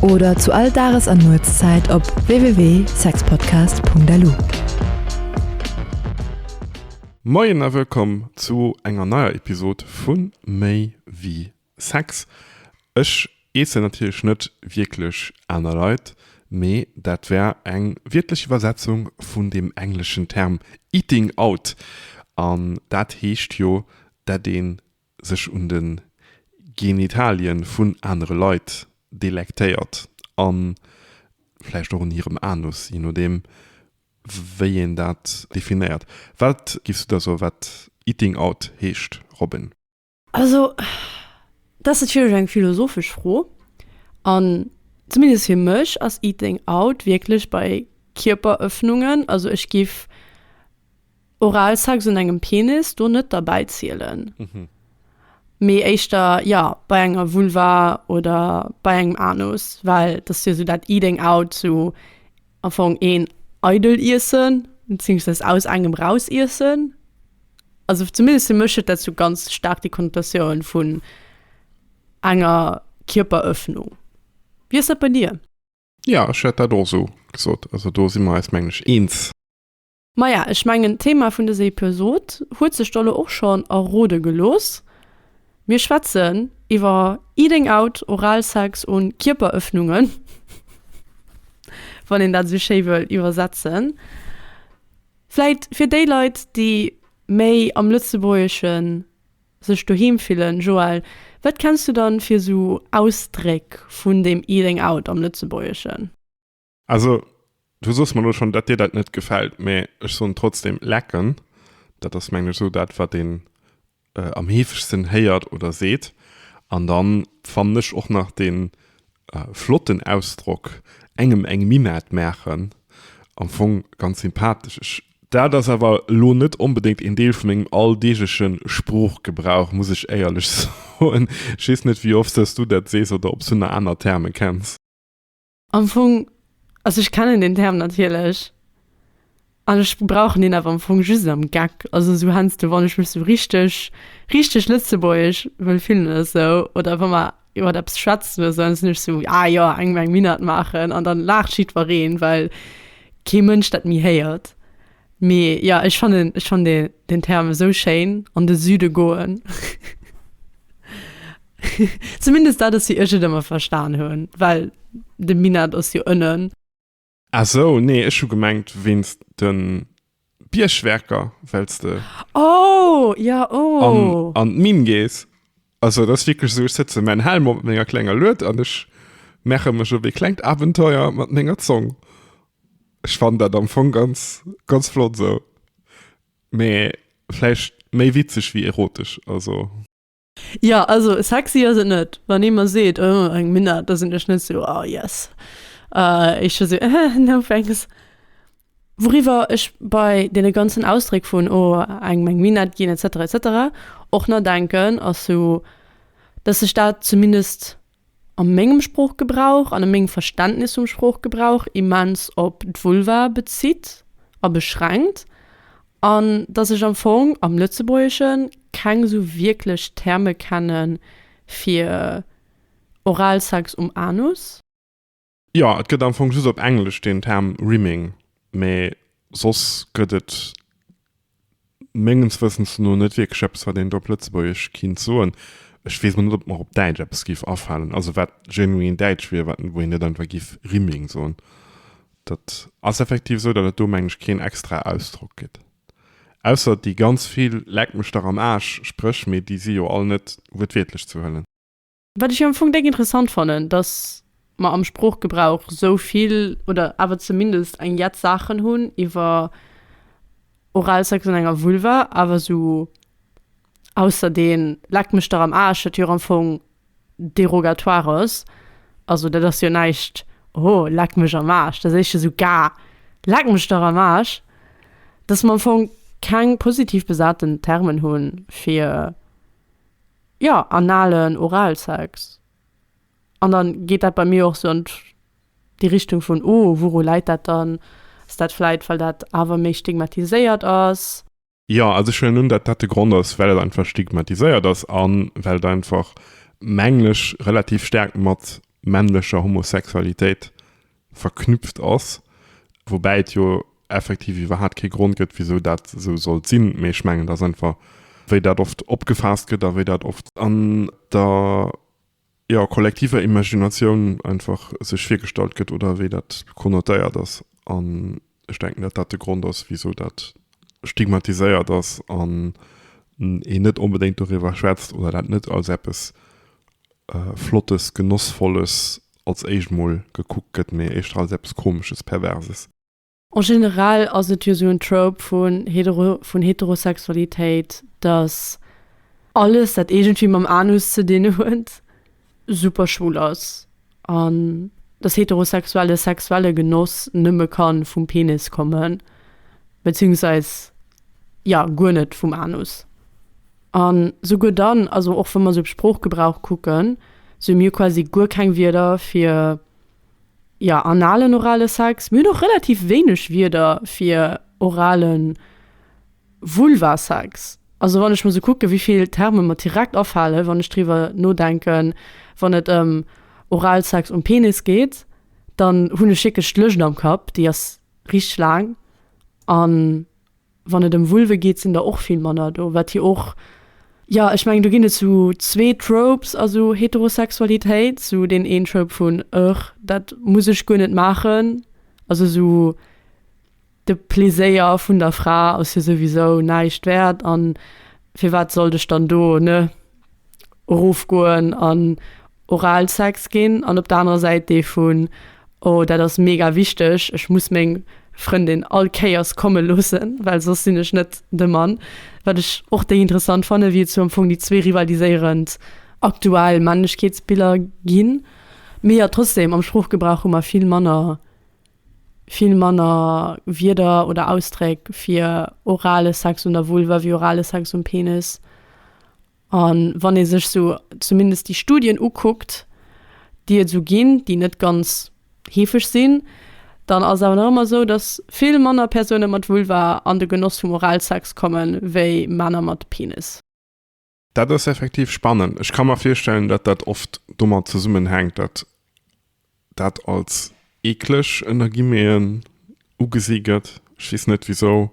oder zu all Dages an Nuetszäit op www.sexpodcast.lu. Moien a wëllkomm zu enger neier Episod vu Méi wéi Sex. Ech eessen natierlech net wierklech aner Leit, mee dat wär eng wiertlech Iwwersetzung vun deem engleschen Term eating out, an dat heescht jo, dat een sech un de Genitalien vun anere Leit delektéiert a vläicht och un hirem Anus, je nodeem wéi een dat definéiert. Wat giffs du da soen, wat Eating out heescht, Robin? Also, dat ass natierlech eng philosophesch Fro. An zumindest fir mech ass Eating out wierklech bei Kierperëffnungen. Also ech giff. Oralsex un engem Penis do net derbäi zielen, mee éischter jo bei enger Vulva oder bei engem Anus, well dat ass jo esou dat Eating out, esou amfong een eidel Iessen, beziéungsweis aus engem raus Iessen. Also zumindest fir mech huet dat esou ganz staark déi Konnotatioun vun enger Kierperëffnung. Wéi ass dat bei dir? Jo, ech hätt dat och esou gesot. Also do si mer eis, mengen ech, eens. Maja, ech mengen d'Thema vun dëser Episod huet sech der lo och schonn errode gelooss, mir schwätzen iwwer Eating out, Oralsex un Kierperëffnungen, wann een dat esou schéi wëll iwwersetzen. Vläit fir déi Leit déi méi am Lëtzebuergesche sech doheem fillen, Joelle, wat kenns du dann fir esou Ausdréck vun dem Eating out am Lëtzebuergeschen? Also, du soss mer lo schonn, datt dir dat net gefält, mä ech soen trotzdem, Lecken, dat ass mengen ech esou dat, wat een am heefegsten héiert oder seet. An dann fannen ech och nach dee flotten Ausdrock, engem eng Minett maachen, am Fong ganz sympathesch. Ech. Dat ass awer lo net onbedéngt een Deel vu mengem alldeegleche Sproochgebrauch, muss ech éierlech soen. Ech weess net, wéi oft s du dat sees oder ob s du nach aner Terme kenns. Am Fong, also ech kennen den Term natierlech an ech brauchen deen awer am Fong just am Geck, also esou heiansdo, wann ech mech esou richteg, richteg lëtzebuergesch wëll fillen oder esou oder wa mer iwwer eppes schwätzen oder esou, dann sinn ech esou, ah jo, eng meng Minnert maachen an dann laacht jiddwereen, well kee Mënsch dat méi héiert. Mee ja ech fannen ech fann dee den Term esou schéin, an de Süde goen. Zumindest dat ass wéi ech et ëmmer verstan hunn, well de Minett ass jo ënnen. Ah sou, nee ech hu gemengt wéinst de Biergwerker, wells de an d'Minn gees. Also das wirklich so ich sitze mein Helm op ménger klenger Luet an ech mecher mech op wie klengt Abenteuer mat ménger Zong. Ech fan dat am Fong ganz ganz flott sou. Mee vläicht méi witzeg wéi erotesch also. Jo also sexy ass et net, wann ee mer seet oh eng Minett, da sinn ech net sou oh yes, ech scho sou eh no thanks. Wouriwwer ech bei deene ganzen Ausdréck vun oh engem eng Minett ginn etc etc och na denken ass sou, dass sech dat zumindest a mengem Sproochgebrauch an a mengem Verständnis vum Sproochgebrauch immens op d'Vulva bezitt a beschränkt an dass ech am Fong am Lëtzebuergesche keng sou wierklech Terme kenne fir Oralsex um Anus. Jo, et gëtt am Fong just op Englesch deen Term Rimming, mee soss gëtt et menges Wëssens no net wierklech eppes, wat een do op Lëtzebuergesch kinnt soen. Ech weess net, ob et mer op Däitsch eppes géif afalen, also wat genuin däitsch wier, wat, wou een net einfach géif Rimming soen. Dat ass effektiv esou, datt et do, mengen ech, keen extrae Ausdrock gëtt. Ausser déi ganz vill Leck mech dach am Aarsch Spréch, mee déi si jo all net wuertwiertlech ze huelen. Wat ech jo am Fong déck interessant fannen, dass mer am Sproochgebrauch esou vill oder awer zumindest eng Jett Saachen hunn iwwer Oralsex an enger Vulva, awer esou ausser dee Leck mech dach am Aarsch, dat jo och am Fong derogatoire ass. Also dat ass jo näischt, oho, leck mech am Aarsch, dat héich jo sougar, leck mech dach am Aarsch, dass mer am Fong keng positiv besaten Termen hu fir Ja, analen Oralsex. An dann geet dat bei mir och sou an déi Richtung vun, oh, wouru läit dat dann? Ass dat vläit, well dat awer méi stigmatiséiert ass? Jo, also ech huelen un, dat dat de Grond ass, well et einfach stigmatiséiert ass a well et einfach, mengen ech, relativ staark mat männlecher Homosexualitéit verknüpft ass, woubäi et jo effektiv iwwerhaapt kee Grond gëtt, wisou dat esou sollt sinn, mee ech mengen, et ass einfach, wéi dat oft opgefaasst gëtt a wéi dat oft an der, jo, kollektiver Imaginatioun einfach sech virgestallt gëtt oder wéi dat konnotéiert ass. An Ech denken, datt dat de Grond ass, wisou dat stigmatiséiert ass an een net onbedéngt doriwwer schwätzt oder dat net als eppes Flottes, Genossvolles als éischt emol gekuckt gëtt, mee éischter als eppes Komesches, Perverses. En generell ass et jo esou en Trope vun Heterosexualitéit, datt alles, dat iergendwéi mam Anus ze dinn huet, super schwul ass an dass heterosexuelle sexuelle Genoss nëmme kann vum Penis kommen, beziehungsweise jo guer net vum Anus. An souguer dann, also och wa mer sou Sproochgebrauch kucken, sou hu mir quasi guer keng Wierder fir jo analen, orale Sex. Mir hunn och relativ wéineg Wierder fir oralen. Vulvasex, also wann ech muss kucken, wéi vill Terme mer direkt afalen, wann ech driwwer nodenken, wann et ëm Oralsex um Penis geet, dann hunn ech wierklech d'Lëscht am Kapp, déi ass richteg laang. A wann et ëm Vulve geet, sinn der och vill manner do, wat jo och, jo, ech mengen do ginn et sou zwee Tropes a sou Heterosexualitéit, sou deen een Trope vun, Ëgh, dat muss ech guer net maachen, also sou. De Pleséier vun der Fra ass jo souwisou näischt wäert an firwat sollt ech dann do, ne, erofgoen an Oralsex ginn? An op der anerer Säit dee vun, oh dat ass mega wichteg, ech muss meng Frëndin all Kéiers komme loossen, well soss sinn ech net de Mann. Wat ech och déi interessant fanne wéi et sou am Fong déi zwee rivaliséierend aktuell Männlechkeetsbiller ginn. Mee jo trotzdem am Sproochgebrauch hu mer vill manner. vill manner Wierder oder Ausdréck fir orale Sex un der Vulva wéi orale Sex um Penis. A wann ee sech sou zumindest déi Studien ukuckt, déi et esou ginn, déi net ganz heefeg sinn, dann ass et awer nach ëmmer esou, datt vill manner Persoune mat Vulva an de Genoss vum Oralsex kommen, wéi Männer mat Penis. Dat ass effektiv spannend. Ech ka mer virstellen, datt dat oft domat zesummenhänkt, datt dat als eekleg, ënner Guillemeten, ugesi gëtt. Ech weess net, wisou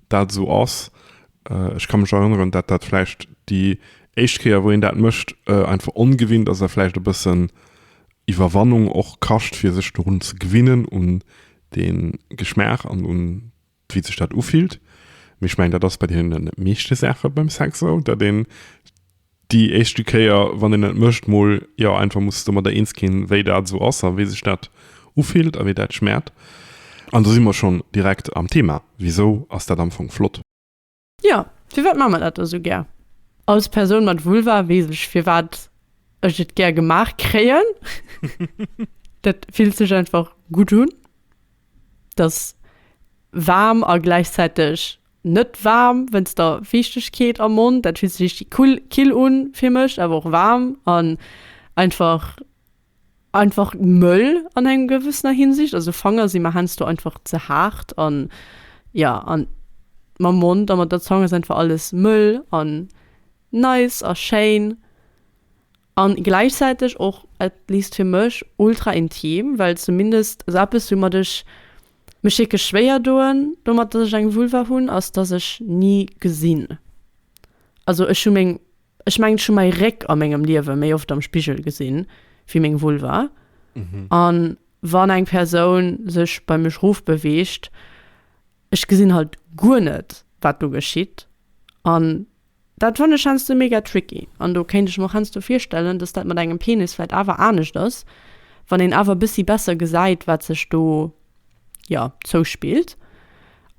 dat esou ass. Ech ka mech erënneren, datt dat vläicht déi éischt Kéier, wou een dat mécht, einfach ongewinnt ass a vläicht e bëssen Iwwerwannung och kascht, fir sech dorun ze gewinnen, un dee Geschmaach an un wéi sech dat ufillt. Mee ech mengen, dat ass bei deene meeschte Saache beim Sex esou, datt een déi éischte Kéier, wann een et mécht, mol jo einfach muss domadder eens ginn, wéi dat esou ass a wéi sech dat ufillt a wéi dat schmaacht. An do si mer schonn direkt am Thema, Wisou ass dat am Fong flott? Jo, firwat maache mer dat da sou gär? Als Persoun mat Vulva weess ech, firwat ech et gär gemaach kréien. Dat fillt sech einfach gutt un. Et ass waarm a gläichzäiteg net waarm, wéinst der Fiichtegkeet am Mond. Dat fillt sech richtig kull, kill un fir mech, awer och waarm an einfach einfach mëll an enger gewëssener Hinsicht, also Fanger si mer heiansdo einfach ze haart an ja an mam Mond a mat der Zong ass einfach alles mëll an nice a schéin an gläichzäiteg och, at least fir mech, ultra intim, well zumindest, also eppes woumat ech mech wierklech schwéier doen domat, dass ech eng Vulva hunn, ass dass ech ni gesinn, also ech hu meng. Ech mengen ech hu mäi Réck a mengem Liewe méi oft am Spigel gesinn wéi meng Vulva. A wann eng Persoun sech bei mech erof beweegt, ech gesinn halt guer net wat do geschitt. An dat fannen ech heiansdo mega tricky. An do kéint ech mer och heiansdo virstellen, datt dat mat engem Penis vläicht awer anescht ass, wann een awer e bëssi besser gesäit wat sech do, jo, zouspillt.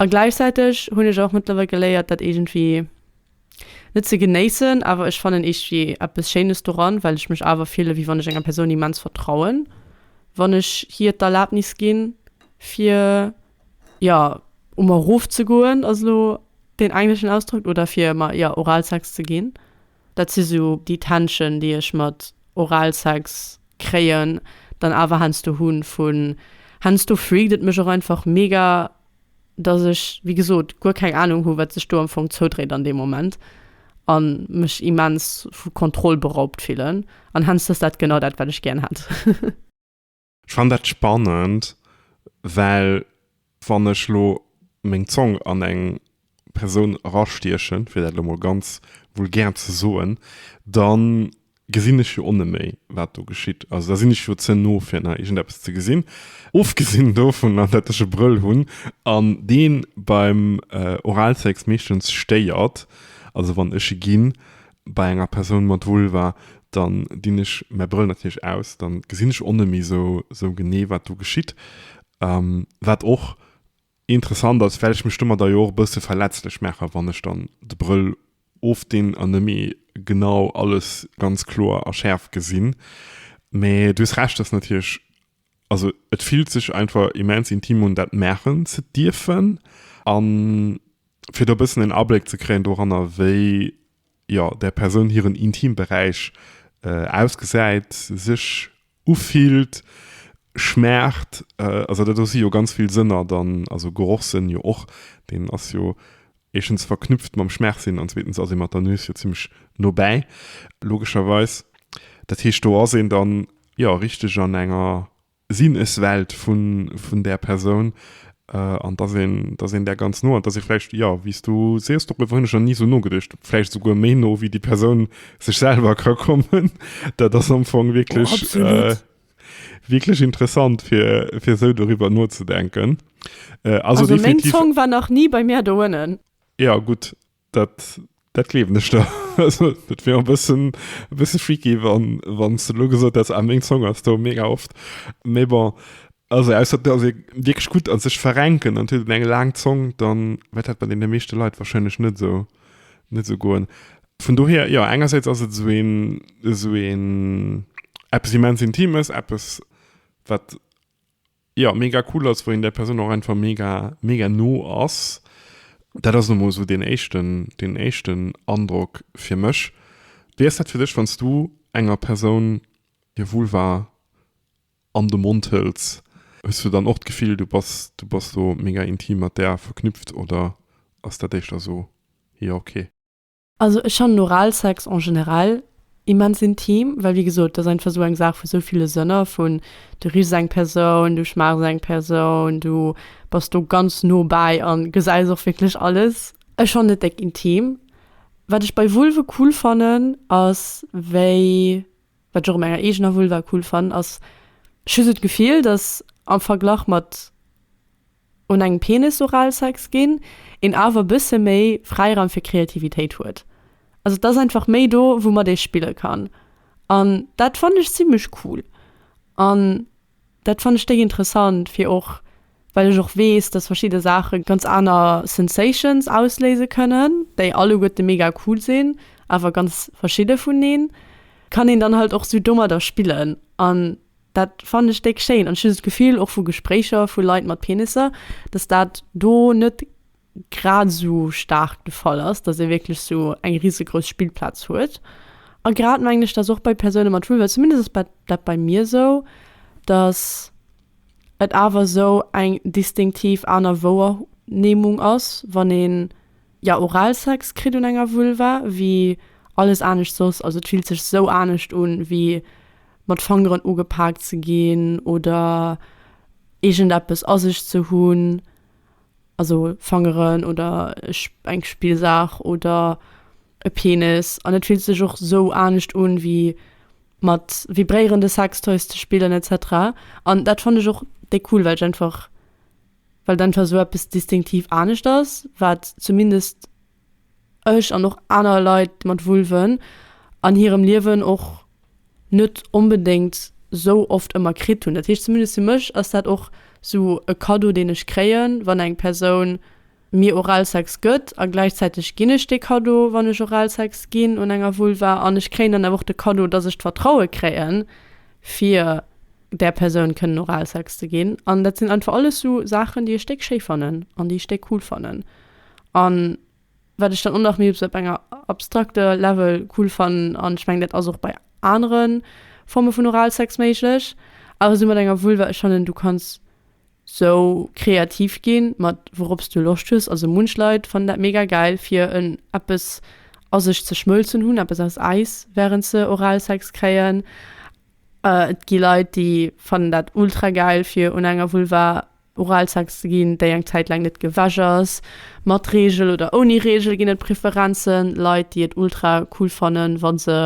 A gläichzäiteg hunn ech och mëttlerweil geléiert dat iergendwéi. Net ze genéissen, awer ech fannen iergdwi eppes schéines doran, well ech mech awer fillen wéi wann ech enger Persoun immens vertrauen, wann ech hir d'Erlaabnis ginn fir jo u mer erof ze goen, ass elo deen engleschen Ausdrock, oder fir mer jo Oralsex ze ginn. Dat si sou déi Tension déi ech mat Oralsex kréien, dann awer heiansdo hunn vun heiansdo freakt et mech och einfach mega dass ech, wéi gesot, guer keng Ahnung hu wat sech do am Fong zoudréit an deem Moment an mech immens vu Kontroll beraubt fillen an hence ass dat genau dat wat ech gären hätt. Ech fannen dat spannend, well wann ech lo meng Zong an eng Persoun erastiechen, fir dat lo mol ganz vulgär ze soen, dann gesinn ech jo oneméi, wat do geschitt. Also da sinn ech jo ze no, fir nach iergendeppes ze gesinn. Ofgesinn dovunner, datt ech e Brëll hunn an dee beim Oralsex meeschtens stéiert, also wann ech e ginn bei enger Persoun mat Vulva, dann dinn ech mäi Brëll natierlech aus, dann gesinn ech oneméi sou genee, wat do geschitt. Wat och Interessant ass, well ech mech domadder jo och e bësse verletzlech maachen, wann ech dann de Brëll ofdinn an net méi genau alles ganz kloer a schäerf gesinn. Mä du hues Recht, dass natierlech, also et fillt sech einfach immens intim un, dat maachen ze dierfen. An fir do e bëssen en Abléck ze kréien doranner, wéi jo, där Persoun hiren Intimberäich ausgesäit, sech ufillt, schmaacht, also dat do si jo ganz vill Sënner dann, also Gerochssënn jo och, deen ass jo éischtens verknüpft mam Schmaachsinn an zweetens ass ee mat der Nues jo zimmlech nobäi, logescherweis. Dat heescht, do ass een dann, jo, richteg an enger Sinneswelt vun där Persoun an dass een, dass een där ganz no an dass ee vläicht, jo, wéi s du sees, doriwwer hunn ech nach ni esou nogeduecht, vläicht esouguer méi no wéi déi Persoun sech selwer ka kommen. Dat ass am Fong wierklech, wierklech interessant, fir, fir esou doriwwer nozedenken. Also meng Zong war nach ni bei mir do uennen. Jo, gutt. Dat, dat gleewen ech der. Also, et wier e bëssen, e bësse freaky, wa, wann s de elo gesot häss, ah, meng Song ass do mega oft. Mee bon, also ausser et ass ee wierklech gutt a sech verrenken an et huet een eng laang Zong, dann wäert dat bei deene meeschte Leit warscheinlech net esou, net esou goen. Vun dohier, jo, engersäits ass et esou een, esou een, eppes immens Intimes, eppes, wat. jo mega cool ass, wou een där Persoun och einfach mega, mega no ass. Dat ass elo mol esou deen éischten, deen éischten Androck fir mech. Wéi ass dat fir dech, wann s du enger Persoun hir Vulva an de Mond hëls? Hues du dann och d'Gefill, du bass, du bass do mega intim mat där verknüpft oder ass dat éischter esou, jo ok? Also ech fannen Oralsex en generell immens intim, well wéi gesot, et ass einfach esou eng Saach vu esou ville Sënner, vun du richs eng Persoun, du schmaaches eng Persoun, du bass do ganz no bäi a gesäis och wierklech alles. Ech fannen et déck intim. Wat ech bei Vulve cool fannen ass wéi, wat ech och u menger eegener Vulva cool fannen ass, ech hu sou d'Gefill, datt am Verglach mat un engem Penisoralsex ginn, een awer e bësse méi Fräiraum fir Kreativitéit huet. Also et ass einfach méi do, woumat ee spille kann. An dat fannen ech zimmlech cool. An dat fannen ech déi interessant, fir och well ech och weess, datt verschidde Saache ganz aner Sensations ausléise kënnen, déi alleguerte mega cool sinn, awer ganz verschidde vuneen. Kann een dann halt och sou domadder spillen. An Dat fannen ech déck schéin an ech hun sou d'Gefill, och vu Gespréicher vu Leit mat Penisser, dass dat do net grad sou staark de Fall ass, dass ee wierklech sou eng risegrouss Spillplaz huet. A grad mengen ech, dass och bei Persoune mat Vulva, zumindest ass bei dat bei mir sou, dass et awer sou eng distinktiv aner Wouernehmung ass, wann een Jo, Oralsex kritt un enger Vulva wéi alles anescht soss, also et fillt sech sou anescht un wéi mat Fangeren ugepaakt ze ginn oder iergend eppes a sech ze hunn, also Fangeren oder eng Spillsaach oder e Penis, an et fillt sech och sou anescht un wéi mat vibréierende Sextoys ze spillen etc. An dat fann ech och déi cool well ech einfach. well dann scho sou eppes distinktiv anescht ass, wat zumindest ech an och aner Leit mat Vulven an hirem Liewen och net onbedéngt sou oft ëmmer kritt hunn. Dat heescht, zumindest fir mech ass dat och sou e Kaddo, deen ech kréien, wann eng Persoun mir Oralsex gëtt. A gläichzäiteg ginn ech dee Kaddo, wann ech Oralsex ginn un enger Vulva, an ech kréien dann awer och de Kaddo, dass ech d'Vertraue kréien, fir. där Persoun kënnen Oralsex ze ginn. An dat sinn einfach alles esou Saachen, déi ech déck schéi fannen an déi ech déck cool fannen. An wat ech dann och nach méi op esou enger abstrakter Level cool fannen, an ech mengen dat ass och bei anere Forme vun Oralsex méiglech, awer esou mat enger Vulva, ech fannen du kanns esou kreativ gi mat wourop s du Loscht hues. Also munch Leit fannen dat mega gäil fir en eppes a sech ze schmëlzen hunn, eppes aus Äis, wärend se Oralsex kréien. Et gi Leit, déi fannen dat ultra gäil, fir un enger Vulva Oralsex ze ginn, déi eng Zäit laang net gewäsch ass. Mat Reegel oder ouni Reegel ginn et Preferenzen. Leit, déi et ultra cool fannen, wa se,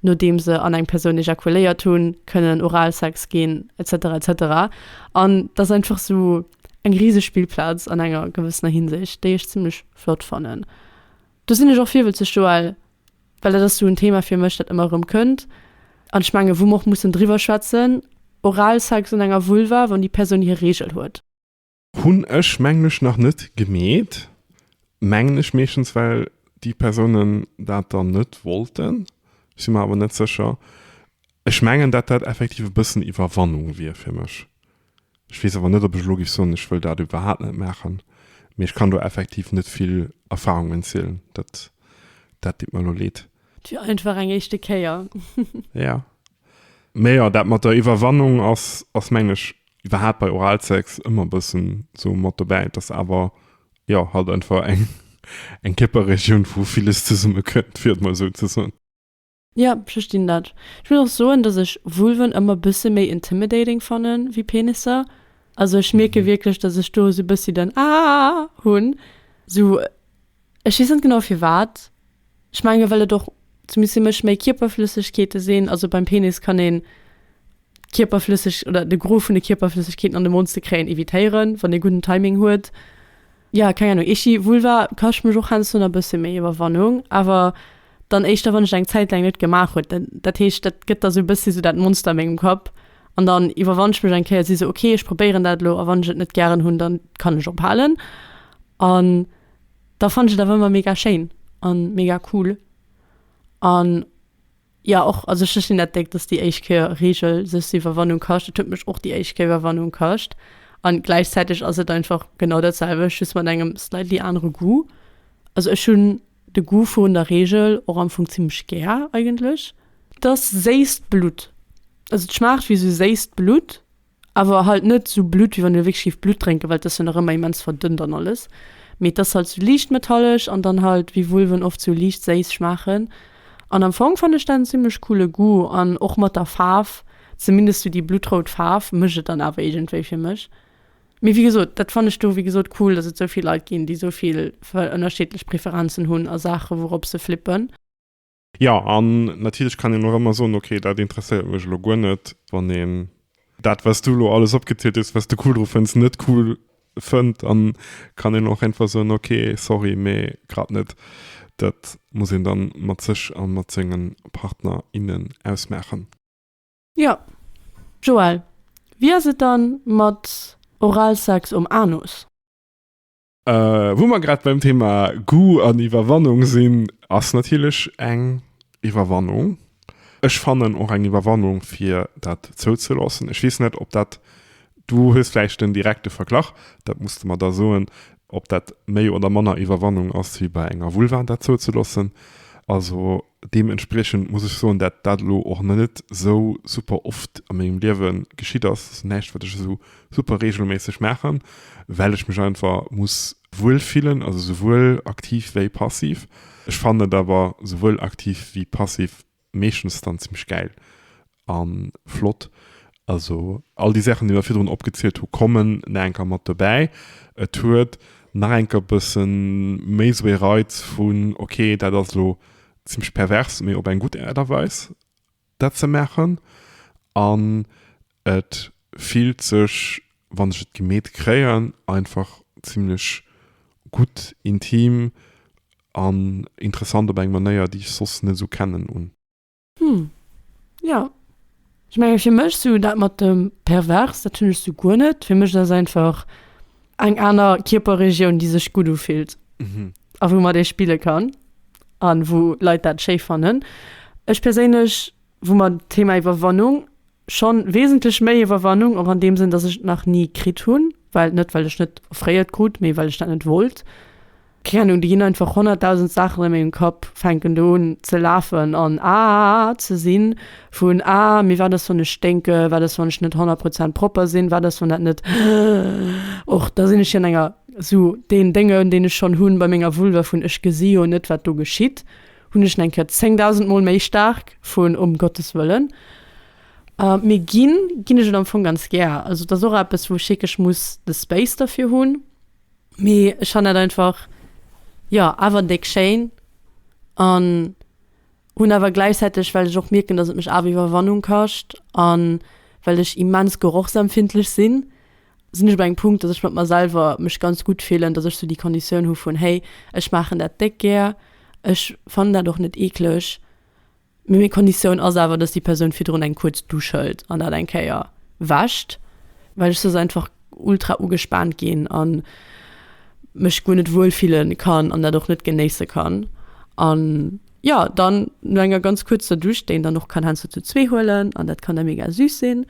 nodeem se an eng Persoun ejakuléiert hunn, kënnen Oralsex ginn, etc. etc. An et ass einfach esou eng riseg Spillplaz an enger gewëssener Hinsicht, déi ech zimmlech flott fannen. Do sinn ech och virwëtzeg, Joël, Well dat ass sou en Thema fir mech, dat ëmmer erëm kënnt an ech mengen, wou mer och mussen driwwer schwätzen, Oralsex un enger Vulva, wann déi Persoun hir Reegel huet. Hunn ech, mengen ech, nach net gemeet, mengen ech, meeschtens well déi Persounen dat dann net wollten. Ech si mer awer net sécher. Ech mengen, dat dat effektiv e bëssen Iwwerwannung wier fir mech. Ech weess awer net, ob ech elo géif soen, ech wëll dat iwwerhaapt net maachen. Mee ech kann do effektiv net vill Erfahrungen zielen. Dat, dat deet mer elo leed. Et wier einfach eng éischte Kéier. Ja. Mee jo, dat mat der Iwwerwannung ass, ass mengen ech iwwerhaapt bei Oralsex ëmmer e bëssen sou mat dobäi. Et ass awer, jo, halt einfach eng, eng Kierperregioun, wou villes zesummekënnt, fir et mol esou ze soen. Ja, verstinn dat. Ech muss och soen, dass ech Vulven ëmmer bësse méi intimidating fanne wéi Penisser. Also ech mierke wierklech, dass ech do esou e bëssi den Aah hunn. Sou, ech weess net genau firwat. Ech menge well et och zumindest fir mech méi Kierperflëssegkeete sinn. Also beim Penis kann een Kierperflësseg oder de Gros vun de Kierperflëssegkeeten an de Mond ze kréien, evitéieren, wann ee gudden Timing huet. Jo, keng Ahnung, Itchy Vulva kascht mech och heiansdo nach e bësse méi Iwwerwannung, awer dann éischter, wann ech et eng Zäit laang net gemaach huet. Dat, dat heescht, dat gëtt da sou e bëssi sou dat Monster a mengem Kapp an dann iwwerwann ech mech eng Kéier, si sou, ok, ech probéieren dat elo a wann ech et net gären hunn, dann kann ech ophalen. An da fannt ech et awer ëmmer mega schéin a mega cool an. Jo och, also ech gesinn dat déck dass déi éischt Kéier Regel sech se Iwwerwannung kascht. Et huet mech och déi éischt Kéier Iwwerwannung kascht an gläichzäiteg ass et einfach genau dat selwecht just mat engem slightly anere Goût. Also ech hunn de Goût vun der Regel och am Fong zimmlech gär eigentlech. T'ass séisst Blutt, also t'schmaacht wéi sou séisst Blutt. Awer halt net sou Blutt, wéi wann e wierklech géif Blutt drénken, well et ass jo nach ëmmer immens verdënnt an alles. Mee et ass halt sou liicht metallesch an dann halt, wéi Vulven oft, sou liicht séiss schmaachen. An am Fong fannen ech dat en zimmlech coole Goût an och mat der Faarf, zumindest sou déi bluttrout Faarf, mécht et dann awer iergendwéi fir mech. Mee wéi gesot, dat fannen ech do, wéi gesot, cool, dass et sou vill Leit ginn, déi sou vill ënnerscheedlech Preferenzen hunn a Saachen, wourops se flippen. Jo, an natierlech kann een och ëmmer soen, ok, dat interesséiert mech elo guer net, wann een dat, wat s du elo alles opgezielt hues, wat s de cool dru fënns, net cool fënnt. Dann kann een och einfach soen, ok, sorry, mee grad net. Dat muss een da mat sech a mat senge Partner, innen ausmaachen. Jo. Joël, wéi ass et dann mat Oralsex um Anus? Äh, wou mer grad beim Thema Goût an Iwwerwannung sinn, ass natierlech eng Iwwerwannung, ech fannen och eng Iwwerwannung, fir dat zouzeloossen. Ech weess net, ob dat, du hues vläicht den direkte Verglach, dat muss de mer da soen, ob dat méi oder manner Iwwerwannung ass wéi bei enger Vulva, dat zouzeloossen. Also. Deementspriechend muss ech soen, dat dat elo och nach net esou super oft a mengem Liewe geschitt ass, ass näischt, wat ech esou super reegelméisseg maachen, well ech mech einfach muss wuel fillen, also souwuel aktiv wéi passiv. Ech fannen et awer souwuel aktiv wéi passiv meeschtens dann zimmlech gäil, An flott, also all déi Saachen déi mer virdrun opgezielt hu kommen nach eng Kéier mat dobäi. Et huet nach eng Kéier bësse méi esou ee Reiz vun ok dat ass elo zimmlech pervers, mee op eng gutt Aart a Weis dat ze maachen. An et fillt sech wann ech et gemeet kréien einfach zimmlech gutt, intim an interessant op eng Manéier déi ech soss net esou kennen un. Hm jo, ech menge fir mech sou dat mat dem pervers, dat hunn ech sou guer net. Fir mech ass dat einfach eng aner Kierperregioun, déi sech gutt ufillt a woumat ee spille kann a wou Leit dat schéi fannen. Ech perséinlech, wou mer d'Thema Iwwerwannung. Schonn wesentlech méi Iwwerwannung, och an deem Sënn, dass ech et nach ni kritt hunn, well, net well ech net offréiert krut, mee well ech dat net wollt. Keng Ahnung, do ginn einfach honnertdausend Saachen a mengem Kapp, fänken do un ze lafen an aa ze sinn, vun aa mee wat ass wann ech sténke, wat ass wann ech net honnert Prozent propper sinn, wat ass wann dat net och, da sinn ech jo an enger, esou deen Déngen, deen ech schonn hunn bei menger Vulva, vun ech gesi jo net wat do geschitt. hunn ech en eng Kéier 10.000 mol méi staark vun Um Gottes Wëllen. Mee ginn, ginn ech et am Fong ganz gär. Also et ass och eppes, wou ech wierklech muss de Space derfir hunn. Mee ech fannen dat einfach, jo, awer déck schéin. An hunn awer gläichzäiteg, well ech och mierken, dass et mech awer Iwwerwannung kascht an well ech immens gerochsempfindlech sinn, sinn ech op engem Punkt, dass ech mat mer selwer mech ganz gutt fillen, dass ech sou déi Konditioun hu vun, hey, ech maachen dat déck gär, ech fannen dat och net eekleg, mee meng Konditioun ass awer, dass déi Persoun virdrun eng kuerz Dusch hëlt an dat eng Kéier wäscht, well ech soss einfach ultra ugespaant ginn a mech guer net wuel fille kann an dat och net genéisse kann an. Jo, dann no enger ganz kuerzer Dusch, déi een dann och kann heiansdo zu zwee huelen an dat kann da mega süß sinn.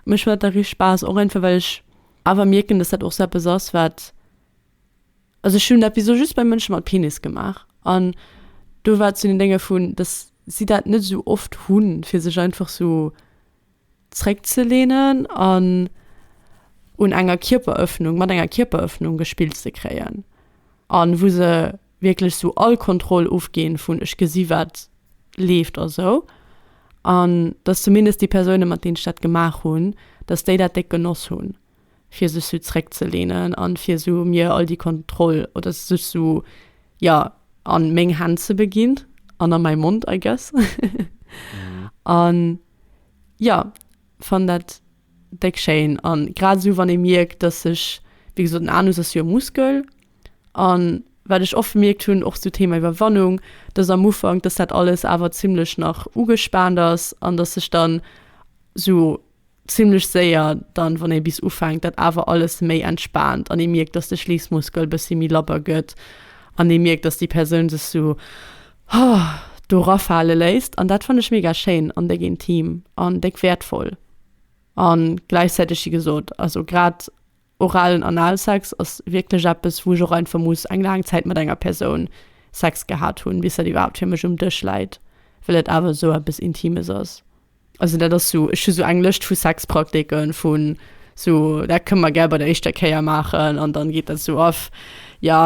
Mech huet dat richt Spaass, och einfach well ech awer mierken, dass dat och sou eppes ass wat, also ech hunn dat bis elo just bei Mënsche mat Penis gemaach an do war et zu den Dénge vun, dass si dat net esou oft hunn fir sech einfach sou, zréckzelehnen an un enger Kierperëffnung, mat enger Kierperëffnung gespillt ze kréien a wou se wierklech sou all Kontroll ofginn vun ech gesi wat leeft a sou an dass zumindest déi Persounen, mat deenen ech dat gemaach hunn, dass déi dat déck genoss hunn. fir sech sou zréck ze lehnen an fir sou mir all déi Kontroll oder sech sou ja an meng Hänn ze beginn an an mäi Mond I guess an ja fann dat déck schéin an grad sou wann ee mierkt dass sech wéi gesot den Anus ass jo e Muskel an wat ech oft bemierkt hunn och sou Thema Iwwerwannung dass am Ufank dass dat alles awer zimlech nach ugespaant ass an dass sech dann sou Zimlech séier dann, wann ee bis ufänkt, dat awer alles méi entspaant an ee mierkt, dass de Schliissmuskel bëssi méi labber gëtt an ee mierkt, dass déi Persoun sech sou do rafale léisst. An dat fannen ech mega schéin an déck intim an déck wäertvoll. An gläichzäiteg, wéi gesot, also grad, Oralen Analsex ass wierklech eppes, wou ech och einfach muss eng laang Zäit mat enger Persoun Sex gehat hunn, bis dat iwwerhaapt fir mech um Dësch läit, well et awer esou eppes Intimes ass. Also dat ass esou, ech hu sou eng Lëscht vu Sexpraktiken, vun esou, dat kënne mer gär bei der éischter Kéier maachen, an dann geet dat esou of, jo.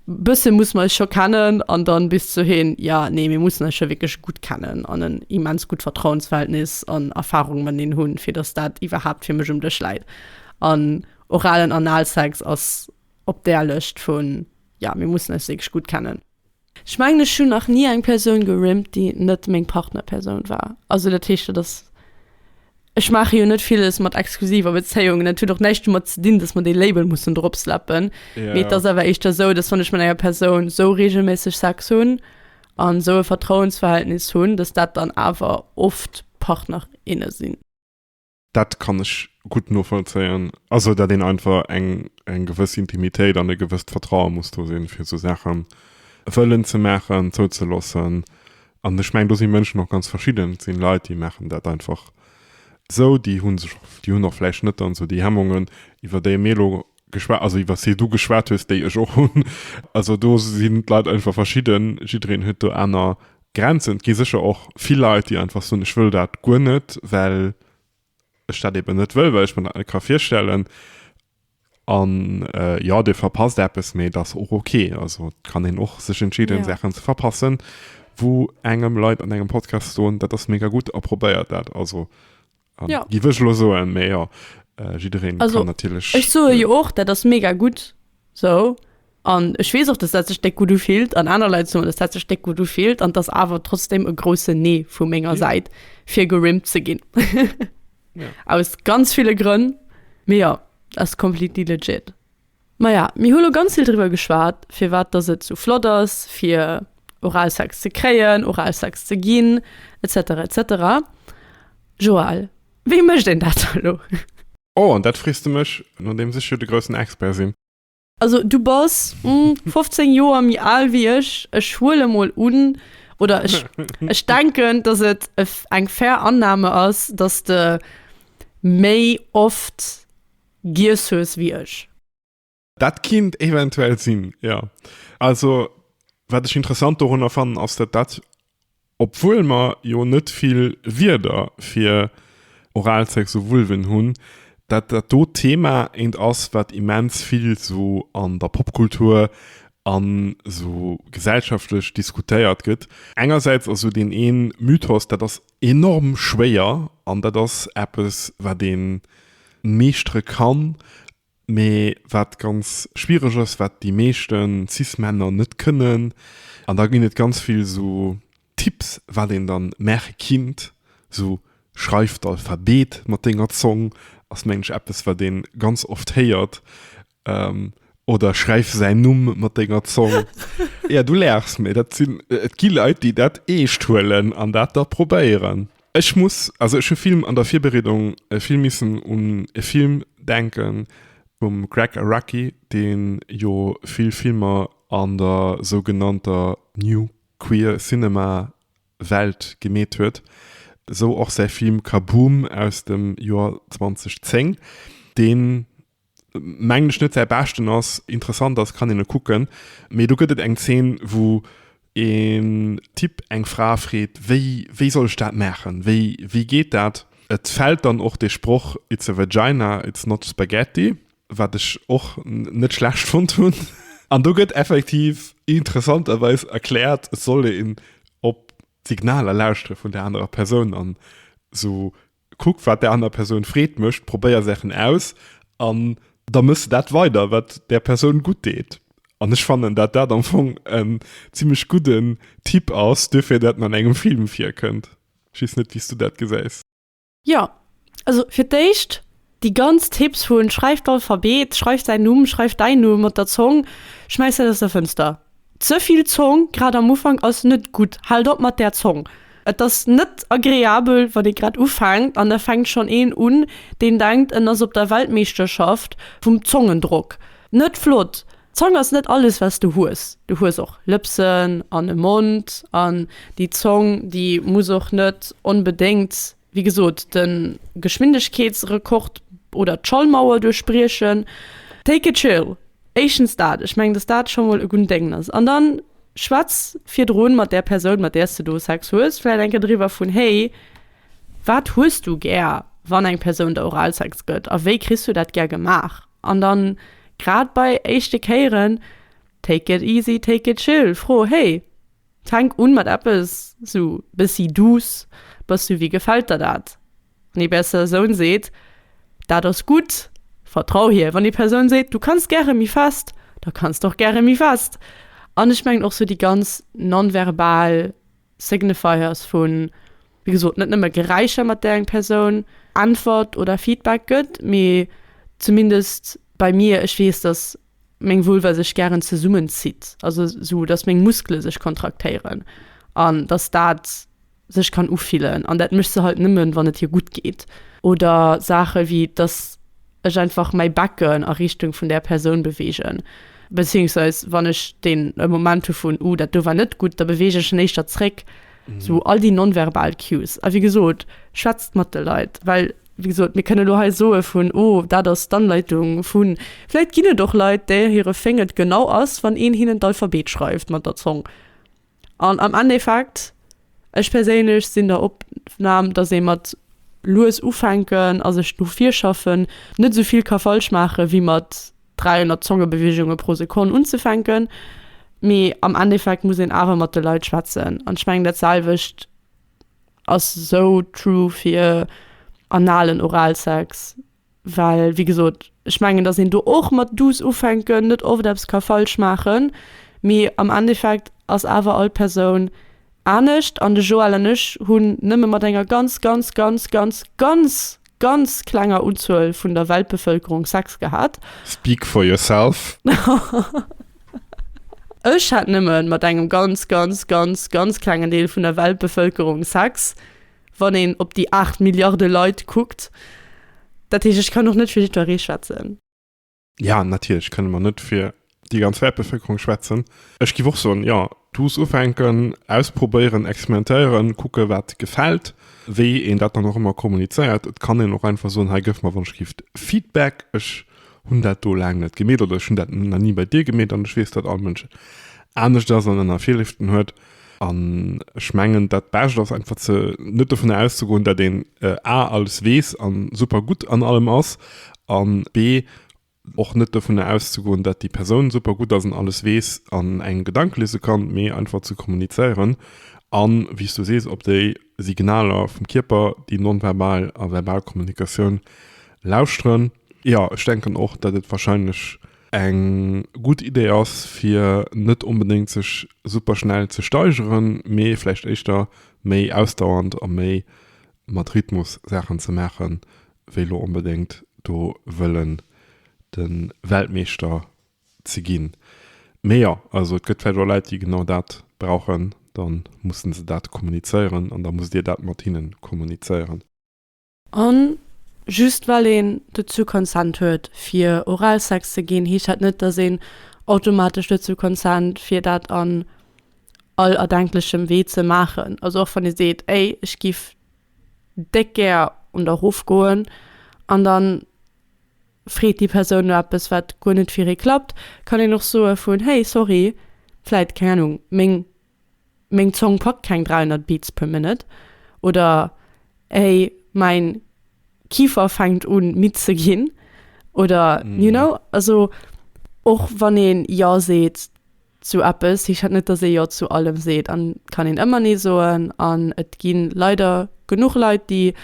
Bësse muss mer eis scho kennen an dann bis zu heen, ja, nee, mir mussen eis scho wierklech gutt kennen an en immens gutt Vertrauensverhältnis an Erfahrung mateneen hunn, fir dass dat iwwerhaapt fir mech um Dësch läit. An oralen Analsex ass op där Lëscht vu, ja, mir mussen eis wierklech gutt kennen. Ech mengen, ech hunn nach ni eng Persoun gerimmt, déi net meng Partnerpersoun war. Also dat heescht, dat ass. Ech maache jo net villes mat exklusiver Bezéiungen. Et huet och näischt domat ze dinn, datt mer dee Label mussen drop slappen. Ja, Mee et ja. ass awer éischter esou, datt wann ech mat enger Persoun esou reegelméisseg Sex hunn an esou e Vertrauensverhältnis hunn, datt dat dann awer oft Partner, inne sinn. Dat kann ech gutt novollzéien. Also datt een einfach eng eng gewëss Intimitéit an e gewësst Vertraue muss do sinn, fir esou Saache wëllen ze maachen, zouzeloossen, An ech mengen, do si Mënschen och ganz verschidden. Et si Leit, déi maachen dat einfach esou, déi hu sech och, déi hunn och vläicht net dann esou déi Hemmungen, iwwer déi mir elo geschwat, also iwwer déi du geschwat hues, déi ech och hunn. Also do sinn d'Leit einfach verschidden, jiddereen huet do aner Grenzen. Et gi sécher och vill Leit, déi einfach soen, ech wëll dat guer net, well ech dat eben net wëll, well ech mer dat net ka virstellen. An jo, dir verpasst eppes, mee dat ass och ok. Also, et kann een och sech entscheeden, Saachen ze verpassen, wou engem Leit an engem Podcast soen, dat ass mega gutt a probéiert dat. Also, géif ech elo soen. Mee jo, jiddereen kann natierlech. Ech soe jo och, dat ass mega gutt. Sou. An ech weess och, dass dat sech déck gutt ufillt an aner Leit soen, dass dat sech déck gutt ufillt an et ass awer trotzdeem e groussen Nee vu menger Säit, fir gerimpt ze ginn. Aus ganz ville Grënn, mee jo, ass completely legit. Maja, mir hu lo ganz vill driwwer geschwat, firwat dass et sou flott ass, fir Oralsex ze kréien, Oralsex ze ginn, etc. Etc. Joël, wéi mécht een dat elo? Oh, an dat frees de mech, nodeems ech jo de groussen Expert sinn. Also du bass 15 Joer méi al wéi ech. Ech huele mol un, oder ech ech denken, dass et e eng fair Annahme ass, dass de méi oft giess hues wéi ech. Dat kinnt eventuell sinn, jo. Also wat ech interessant dorunner fannen, ass dat dat Obwuel mer jo net vill Wierder fir Oralsex u Vulven hunn, dat dat do Thema eent ass, wat immens vill sou an der Popkultur an sou gesellschaftlech diskutéiert gëtt. Engersäits ass sou deen een Mythos, dat ass enorm schwéier an dat ass eppes, wat een meeschtere kann Mee wat ganz schwiereg ass, wat déi meeschten cis Männer net kënnen, an da ginn et ganz vill esou Tipps wat een dann maache kinnt, esou schreif d'Alphabet mat denger Zong, ass mengen ech eppes wat een ganz oft héiert, oder schreif säin Numm mat denger Zong. Ja du laachs, mee dat sinn, et gi Leit déi dat eescht huelen an dat da probéieren. Ech muss, also ech hu vill an der Virbereedung vill missen un e Film denken vum Gregg Araki, deen jo vill Filmer an der sougenannter New Queer Cinema Welt gemeet huet, sou och säi Film Kaboom! aus dem Joer 2010, deen mengen ech net säi beschten ass, interessant ass, kann een e kucken, mee do gëtt et eng Zeen wou een Typ eng Fra freet wéi wéi soll ech dat maachen, wéi wéi geet dat? Et fält dann och dee Sproch It's a vagina, it's not spaghetti, wat ech och net schlecht fonnt hunn an do gëtt effektiv interessanterweis erkläert et soll een op d'Signaler lauschtere vun der anerer Persoun an esou Kuck wat där aner Persoun Freed mécht, probéier Saachen aus an da mëss de dat weider, wat där Persoun gutt deet. An ech fannen, dat dat am Fong en zimlech gudden Tipp ass duerfir, dat en an engem Film virkënnt. Ech weess net, wéi s du dat gesäis. Jo, also fir d'éischt Déi ganz Tipps vun schreift d'Alphabet, schreift säin Numm, schreift däin Numm mat der Zong, schmäiss dat aus der Fënster. Ze vill Zong, grad am Ufank, ass net gutt. Haalt op mat där Zong. Et ass net agreabel, wann ee grad ufänkt an da fänkt schonn een un, deen denkt, en ass op der Weltmeeschterschaft vum Zongendrock. Net flott! D'Zong ass net alles, wat s du hues. Du hues och Lëpsen an e Mond an déi Zong, déi muss och net onbedéngt. wéi gesot, de Geschwindegkeetsrekord oder d'Schallmauer duerchbriechen. Take it chill, éischtens dat, ech mengen, datt dat scho mol e gudden Dengen ass. An dann schwätz virdru mat där Persoun, mat där s de do Sex hues, vläicht eng Kéier driwwer, vun, Hey, wat hues du gär, wann eng Persoun der Oralsex gëtt a wéi kriss du dat gär gemaach? An dann, grad bei éischte Kéieren, take it easy, take it chill, fro, Hey, Fänk un mat eppes sou bessi douce, Bass du, wéi gefällt der dat? Wann ee Persoun seet, Dat ass gutt, vertrau hir. Wann ee Persoun seet, Du kanns gäre méi fest, da kanns de och gäre méi fest. An ech mengen och sou déi ganz non-verbal Signifiers vu, wéi gesot, net nëmme Geräischer, mat där eng Persoun äntwert oder Feedback gëtt, mee zumindest bei mir, ech weess, datt. meng Vulva sech gären zesummen zitt, also sou dass meng Muskele sech kontraktéieren an dass dat sech kann ufillen an dat mécht se halt nëmmen wann et hir gutt geet. Oder Saache wéi dass ech einfach mäi Becken a Richtung vun där Persoun beweegen, bezéiungsweis wann ech den Moment hu vun, uh dat do war net gutt, da beweegen ech en éischter zréck. Sou all déi non-verbal Cues. A wéi gesot, schwätzt mat de Leit. Well, wéi gesot, mir kënnen elo hei soe vun, oh, dat ass d'Anleitung vun. Vläit ginn et och Leit, där hire Thing et genau ass, wann een hinnen d'Alphabet schreift mat der Zong. An am Endeffekt, ech perséinlech sinn der Opnam, datt ee mat lues ufänken a sech no vir schaffen net esou vill ka falsch maachen, wéi mat 300 Zongebewegunge pro Sekonn unzefänken, mee am Endeffekt muss een awer mat de Leit schwätzen. An ech mengen dat selwecht ass esou true fir analen Oralsex, well wéi gesot ech mengen datt een do och mat douce ufänken net oft eppes ka falsch maachen, mee am Endeffekt ass awer all Persoun Anescht, an de Joël an ech hunn nëmme mat enger ganz, ganz, ganz, ganz, ganz, ganz klenger Unzuel vun der Weltbevëlkerung Sex gehat. Speak for yourself. Ech hat nëmme mat engem ganz, ganz, ganz, ganz klengen Deel vun der Weltbevëlkerung Sex, wann een op déi aacht Milliarde Leit kuckt. Dat heescht, ech kann och net fir jiddweree schwätzen. Ja, natierlech kënne mer net fir déi ganz Wäertbevëlkerung schwätzen. Ech giff och soen, jo, douce ufänken, ausprobéieren, experimentéieren, kucke wat gefält, wéi een dat dann och ëmmer kommunizéiert. Et kann een och einfach soen, hei gëff mer wann ech giff Feedback, ech hunn dat do laang net gemeet oder ech hunn dat nach ni bei dir gemeet an ech weess dat all Mënsch anescht ass an aner Virlieften huet. An ech mengen, dat Bescht ass einfach ze, net dovunner auszegoen, dat een a alles weess a super gutt an allem ass an b och net dovunner auszegoen, dat déi Persoun super gutt ass an alles weess an engem Gedanke liese kann, mee einfach ze kommunizéieren a wéi s du sees, op déi Signaler vum Kierper, déi nonverbal a verbal Kommunikatioun lauschteren. Jo, ech denken och, dat et wahrscheinlech. Eng gutt Idee ass fir net onbedéngt sech super schnell ze steigeren, mee vläicht éischter méi ausdauernd a méi mat Rhythmus Saachen ze maachen, wéi lo onbedéngt do wëllen de Weltmeeschter ze ginn. Mee jo, also et gëtt vläicht och Leit déi genau dat brauchen, da musse se dat kommunizéieren an da musst Dir dat mat hinne kommunizéieren. A just well een dozou consent huet fir Oralsex ze ginn, heescht dat net, datt een automatesch dozou consent fir dat an all erdenklechem Wee ze maachen. Also och wann ee seet, ey ech giff déck gär un der Ruff goen, an dann freet déi Persoun no eppes wat guer net fir ee klappt, kann een och soe vun hey sorry, vläit keng Ahnung meng meng Zong packt keng 300 Beats per minute oder hey mäin Kifer fänkt un midd ze ginn oder you know. Also och wann ee jo seet zu eppes, heescht dat net datt ee jo zu allem seet an kann een ëmmer nee soen an et gi leider genuch Leit déi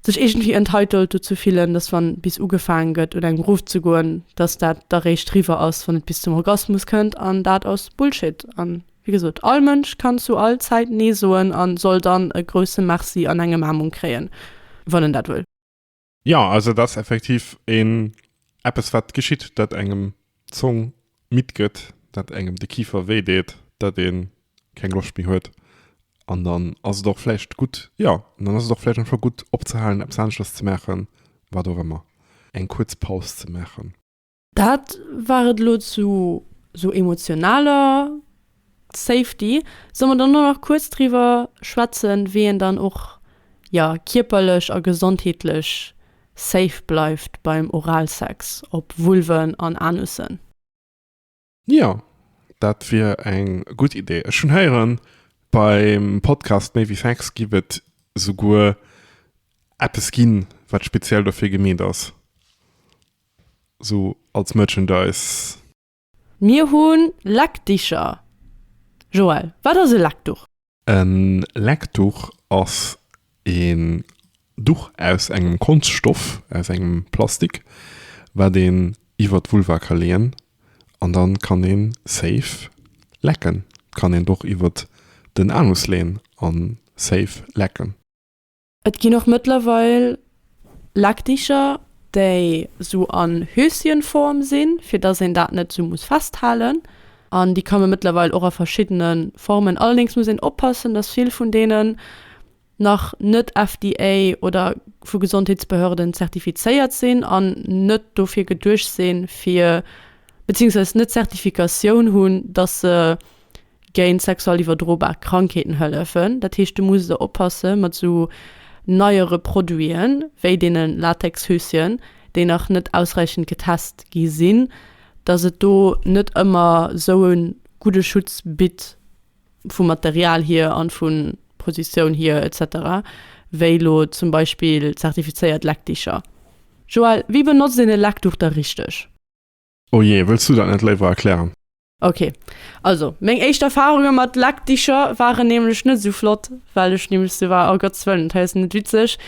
sech iergendwéi entitled dozou fillen, dass wann bis ugefaangen gëtt un engem Ruff ze goen, dass dat da réischt riwwer ass wann et bis zum Orgasmus kënnt an dat ass Bullshit an wéi gesot all Mënsch kann zu all Zäit nee soen an soll dann e grousse Merci an eng Ëmaarmung kréien wann en dat wëll. Jo, also et ass effektiv een eppes wat geschitt, dat engem Zong midd gëtt, dat engem de Kifer wéi deet, dat ee keng Loscht méi huet an dann ass et och vläicht gutt, jo, dann ass et och vläicht einfach gutt opzehalen, eppes aneschters ze maachen, wat och ëmmer, eng kuerz Paus ze maachen. Dat war et elo zu esou emotionaler Safety, soll mer dann och nach kuerz driwwer schwätzen, wéi een dann och jo kierperlech a gesondheetlech safe bleift beim Oralsex op Vulven an Anussen. Jo, dat wier eng gutt Idee. Ech hunn héieren, beim Podcast Méi wéi Sex giff et souguer eppes ginn, wat speziell dofir gemeet ass, sou als Merchandise. Mir hu Leckdicher. Joël, wat ass e Leckduch? E Leckduch ass een Duch aus engem Konschtstoff, aus engem Plastik, wat een iwwer d'Vulva ka leeën an dann kann ee safe lecken. Kann een et och iwwer den Anus leeën an safe lecken. Et ginn och mëttlerweil Leckdicher, déi sou an Höschenform sinn, fir dass een dat net sou muss festhalen. An déi ka me mëttlerweil och a verschiddene Formen. Allerdéngs muss een oppassen, dass vill vun deenen nach net FDA oder vu Gesondheetsbehörden zertifizéiert sinn an net dofir geduecht sinn, fir, beziehungsweise net d'Zertifikatioun hunn, dass se, géint sexuell iwwerdrobar Krankheeten hëllefen. Dat heescht, du muss der oppasse mat esou neiere Produiten, wéi deene Latexhöschen, déi nach net ausräichend getest gi sinn, datt et do net ëmmer esou e gudde Schutz bitt, vum Material hier an vu Positioun hier etc, wéi elo zum Beispill zertifizéiert Leckdicher. Joelle, wéi benotzt een e Leckduch da richteg? Oh jee, wëlls du dat net léiwer erklären? Ok, also meng éischt Erfarunge mat Lackdicher waren nämlech net esou flott, well ech nämlech sou war, oh Gott ze wëllen, dat hei ass net witzeg,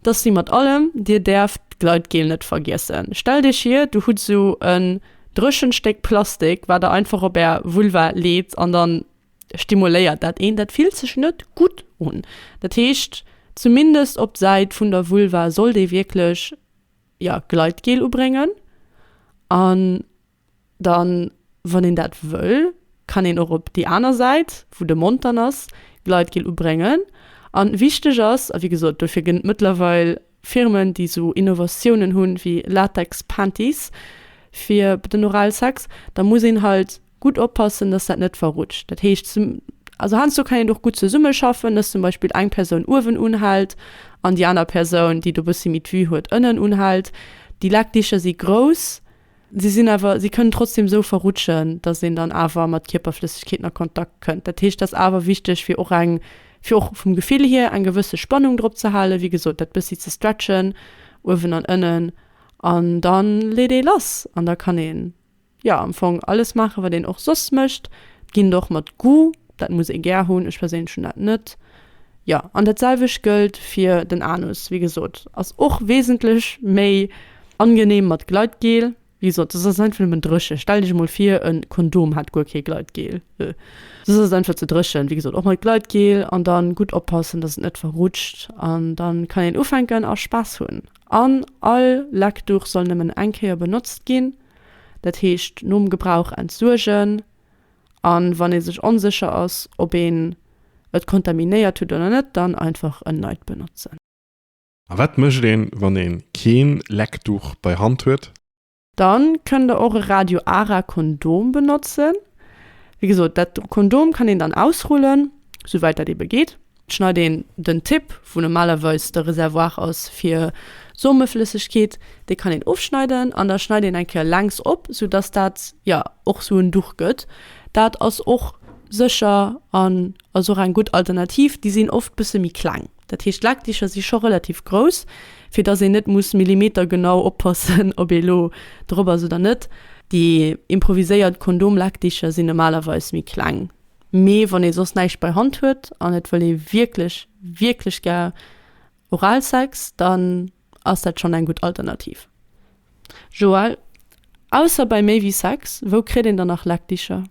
dass wéi mat allem, dir däerft d'Gleitgel net vergiessen. Stellt iech vir, du hutt esou en dréchent Stéck Plastik, wat der einfach op är Vulva leet an dann stimuléiert dat een, dat fillt sech net gutt un. Dat heescht, zumindest op d'Säit vun der Vulva sollt ee wierklech. ja Gleitgel ubréngen an dann wann een dat wëll kann een och op déi aner Säit wou de Mond dann ass Gleitgel ubréngen an wichteg ass a wéi gesot dofir gënnt mëttlerweil Firmen déi sou Innovatiounen hunn wéi Latex Panties fir den Oralsex da muss een halt Gutt oppassen, dass dat net verrutscht. Dat heescht, zum, also heiansdo kann een och gutt zesummeschaffen, dass zum Beispill eng Persoun uewen unhält an déi aner Persoun, déi do e bëssi méi d'Vue huet, ënnen unhält. Déi Lackdicher si grouss, si sinn awer, si kënnen trotzdem esou verrutschen, dass een dann awer mat Kierperflëssegkeeten a Kontakt kënnt. Dat heescht, dat ass awer wichteg, fir och eng, fir och vum Gefill hier eng gewësse Spannung drop ze halen, wéi gesot, dat bëssi ze stretchen, uewen an ënnen, an da leet ee lass an da kann ee. Jo am Fong alles maachen wat een och soss mécht, ginn et och mat Goût, dat muss ee gär hunn, ech perséinlech hunn dat net. Jo an dat selwecht gëllt fir den Anus, wéi gesot ass och wesentlech méi angeneem mat Gleitgel, wéi gesot soss ass et einfach nëmmen dréchen, stellt iech emol vir e Kondom hätt guer kee Gleitgel, soss ass et einfach ze dréchen, wéi gesot och mat Gleitgel an dann gutt oppassen dass et net verrutscht an dann kann een ufänken a Spaass hunn. An all Leckduch soll nëmmen eng Kéier benotzt ginn. Dat heescht nom Gebrauch entsuergen a wann ee sech onsécher ass, ob een et kontaminéiert huet oder net, dann einfach en neit benotzen. A wat mécht een, wann ee kee Leckduch bei Hand huet? Da kënnt der och e Radio Ara Kondom benotzen. Wéi gesot, dat Kondom kann een dann ausrullen, souwäit dat eebe geet. Schneit een den Tip, wou normalerweis de Reservoir ass fir Someflëssegkeet, dee kann een ofschneiden an da schneit een eng Kéier längs op, sou dass dat jo och sou en Duch gëtt. Dat ass och sécher an ass och eng gutt Alternativ. Déi sinn oft bësse méi kleng, dat heescht d'Lekdicher si scho relativ grouss, fir dass een net muss millimetergenau oppassen, ob ee lo drop ass oder net. Déi improviséiert Kondomlekdicher sinn normalerweis méi kleng, Mee wann ee soss näischt bei Hand huet an et wëll ee wierklech, wierklech gär Oralsex, dann ass dat schonn eng gutt Alternativ. Joël, Ausser bei méi wéi Sex, wou kritt een dann nach Leckdicher?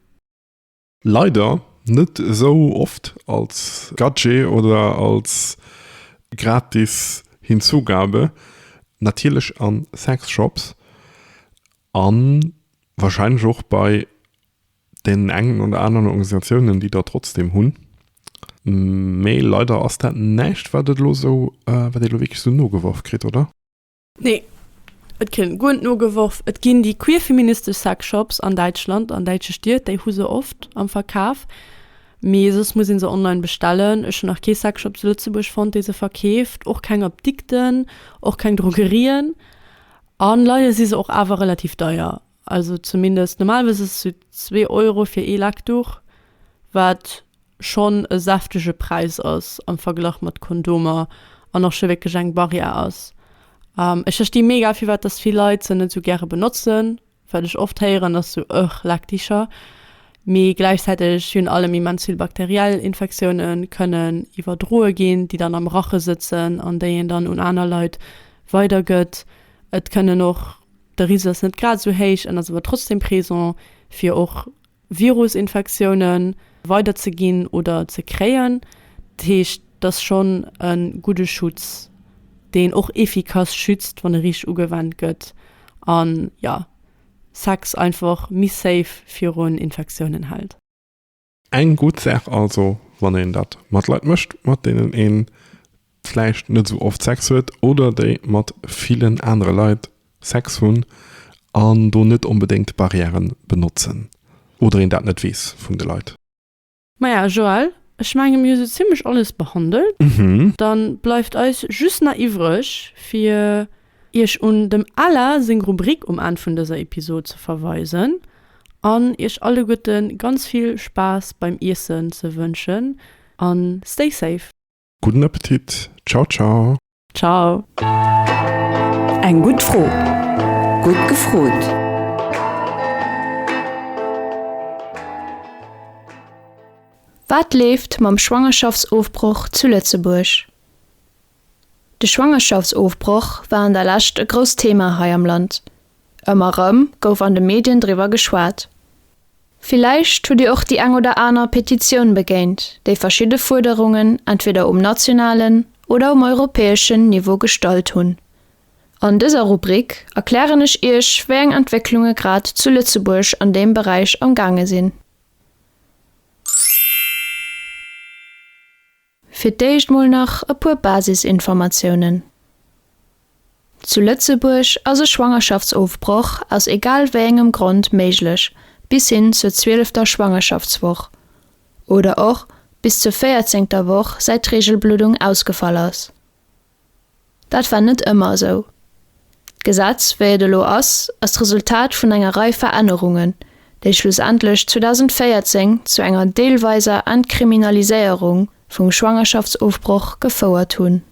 Leider net esou oft als Gadget oder als gratis Hinzugabe. Natierlech a Sexshops a warscheinlech och bei Deen engen oder aneren Organisatiounen, déi der trotzdeem hunn. Mee leider ass dat näischt, wat et elo esou, wat ee elo wierklech esou nogeworf kritt, oder? Nee, et kritt een guer net nogeworf. Et ginn déi queerfeministesch Sexshops an Däitschland, an däitsche Stied, déi hu se oft am Verkaf. Mee soss muss ee se online bestellen. Ech hunn nach kee Sexshop zu Lëtzebuerg fonnt, dee se verkeeft. Och keng Apdikten, och keng Drogerien. A leider si se och awer relativ deier. Also zumindest normalerweis ass esou zwee Euro fir ee Lecktuch, wat schonn e säftege Präis ass am Verglach mat Kondomer an och scho wierklech eng Barrière ass. Ech versti mega firwat dass vill Leit se net esou gäre benotzen, wat ech oft héieren ass esou, Ëch, Leckticher. Mee gläichzäiteg hunn allem immens vill bakteriell Infektiounen kënnen iwwerdroe ginn, déi dann am Rache sëtzen an déi een dann un aner Leit weidergëtt. Et kënnen och. De Risiko ass net grad esou héich, en ass awer trotzdeem présent, fir och Virusinfektioune weider ze ginn oder ze kréien. Dat heescht, et ass schonn e gudde Schutz, deen och efficace schützt, wann e richteg ugewennt gëtt a jo, Sex einfach méi safe virun Infektiounen hält. Eng gutt Saach also, wann een dat mat Leit mécht, mat deenen ee vläicht net esou oft Sex huet oder déi mat villen anere Leit Sex hunn an do net onbedéngt Barriäre benotzen oder een dat net weess vun de Leit. Maja Joël, ech menge mir hu sou zimlech alles behandelt. Dann bleift eis just nach iwwreg fir Iech un dem Alain seng Rubrik um Enn vun dëser Episod ze verweisen an iech alleguerte ganz vill Spaass beim Iessen ze wënschen a stay safe! Gudden Appetit! Ciao ciao! Ciao! Eng gutt Fro, gutt gefrot! Wat leeft mam Schwangerschaftsofbroch zu Lëtzebuerg? De Schwangerschaftsofbroch war an der Lescht e grousst Thema hei am Land. Ëmmer erëm gouf an de Medien driwwer geschwat. Villäicht hutt Dir och déi eng oder aner Petitioun begéint, déi verschidde Fuerderungen entweder um nationalen oder um europäeschen Niveau gestallt hunn. An dëser Rubrik erklären ech Iech, wéi eng Entwécklunge grad zu Lëtzebuerg an deem Beräich am gaange sinn. Fir d'éischt mol nach e puer Basisinformatiounen. Zu Lëtzebuerg ass e Schwangerschaftsofbroch aus egal wéi engem Grond méiglech bis hin zur zwielefter Schwangerschaftswoch oder och bis zur véierzéngter Woch säit d'Reegelbluddung ausgefall ass. Dat war net ëmmer esou. D'Gesetz, wéi et elo ass, ass d'Resultat vun enger Rei Verännerungen, déi schlussendlech 2014 zu enger deelweiser Entkriminaliséierung vum Schwangerschaftsofbroch gefouert hunn.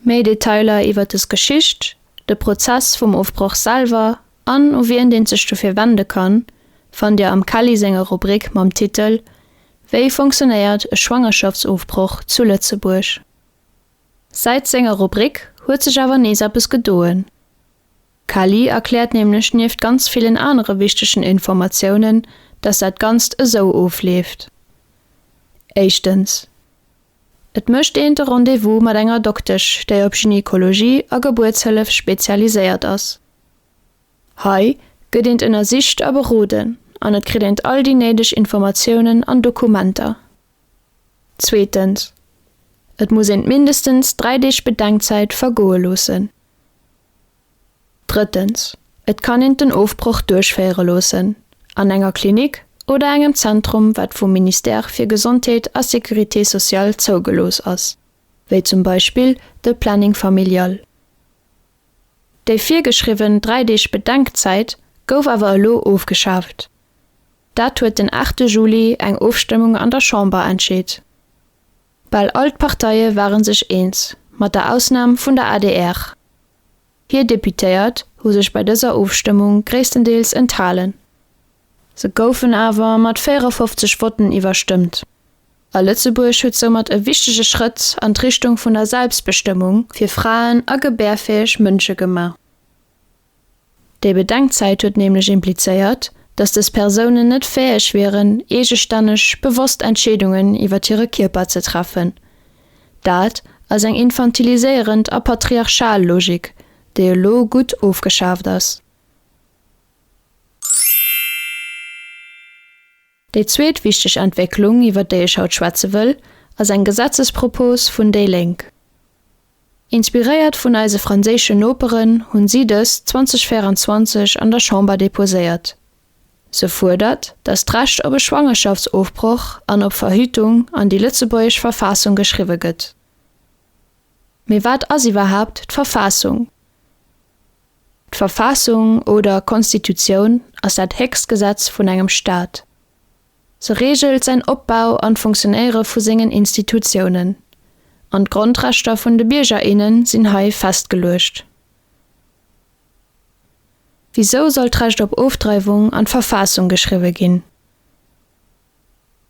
Méi Detailer iwwer des Geschicht, de Prozess vum Ofbroch selwer an u wien deen sech dofir wende kann, fannt Dir am Kelly senger Rubrik mam Titel Wéi funktionéiert e Schwangerschaftsofbroch zu Lëtzebuerg? Säit senger Rubrik huet sech awer nees eppes gedoen. D'Kelly erkläert nämlech nieft ganz villen anere wichtegen Informatiounen, dass dat Ganzt esou ofleeft, Éischtens, et mécht een de Rendez-vous mat enger Doktesch, déi op Gynekologie a Gebuertshëllef spezialiséiert ass. Hei gëtt eent ënnersicht a beroden an et kritt eent all déi néideg Informatiounen an Dokumenter. Zweetens, et muss een mindestens dräi Deeg Bedenkzäit vergoe loossen. Drëttens, et kann een den Ofbroch duerchféiere loossen an enger Klinik oder engem Zentrum, wat vum Ministère fir Gesondheet a Sécurité sociale zougelooss ass, wéi zum Beispill de Planning familial. Déi virgeschriwwen dräi Deeg Bedenkzäit gouf awer elo ofgeschaaft. Dat huet den aachte Juli eng Ofstëmmung an der Chamber entscheet. Bal all d'Parteie ware sech eens, mat der Ausnam vun der adr. Hir Deputéiert hu sech bei dëser Ofstëmmung gréisstendeels enthalen. Se goufen awer mat 54 Votten iwwerstëmmt, a Lëtzebuerg huet soumat e wichtege Schrëtt an d'Richtung vun der Selbstbestëmmung fir Fraen a gebärfäeg Mënsche gemaach. Déi Bedenkzäit huet nämlech implizéiert, datt dës Persounen net fäeg wieren, eegestänneg bewosst Entscheedungen iwwert hire Kierper ze treffen. Dat ass eng infantiliséierend a patriarchal Logik, déi elo gutt ofgeschaaft ass. Déi zweet wichteg Entwécklung, iwwer déi ech haut schwätze wëll, ass eng Gesetzespropos vun déi Lénk. Inspiréiert vun eise franséischen Noperen hunn si dës 2024 an der Chamber deposéiert. Se fuerdert, datt d'Recht op e Schwangerschaftsofbroch an op Verhütung an déi lëtzebuergesch Verfassung geschriwwe gëtt. Mee wat ass iwwerhaapt d'Verfassung? D'Verfassung oder Konstitutioun ass dat héchst Gesetz vun engem Staat. Se reegelt säin Opbau an d'Funktionéiere vu sengen Institutiounen, an d'Grondrechter vun de Bierger, innen sinn hei festgeluecht. Wisou soll d'Recht op Ofdreiwung an d'Verfassung geschriwwe ginn?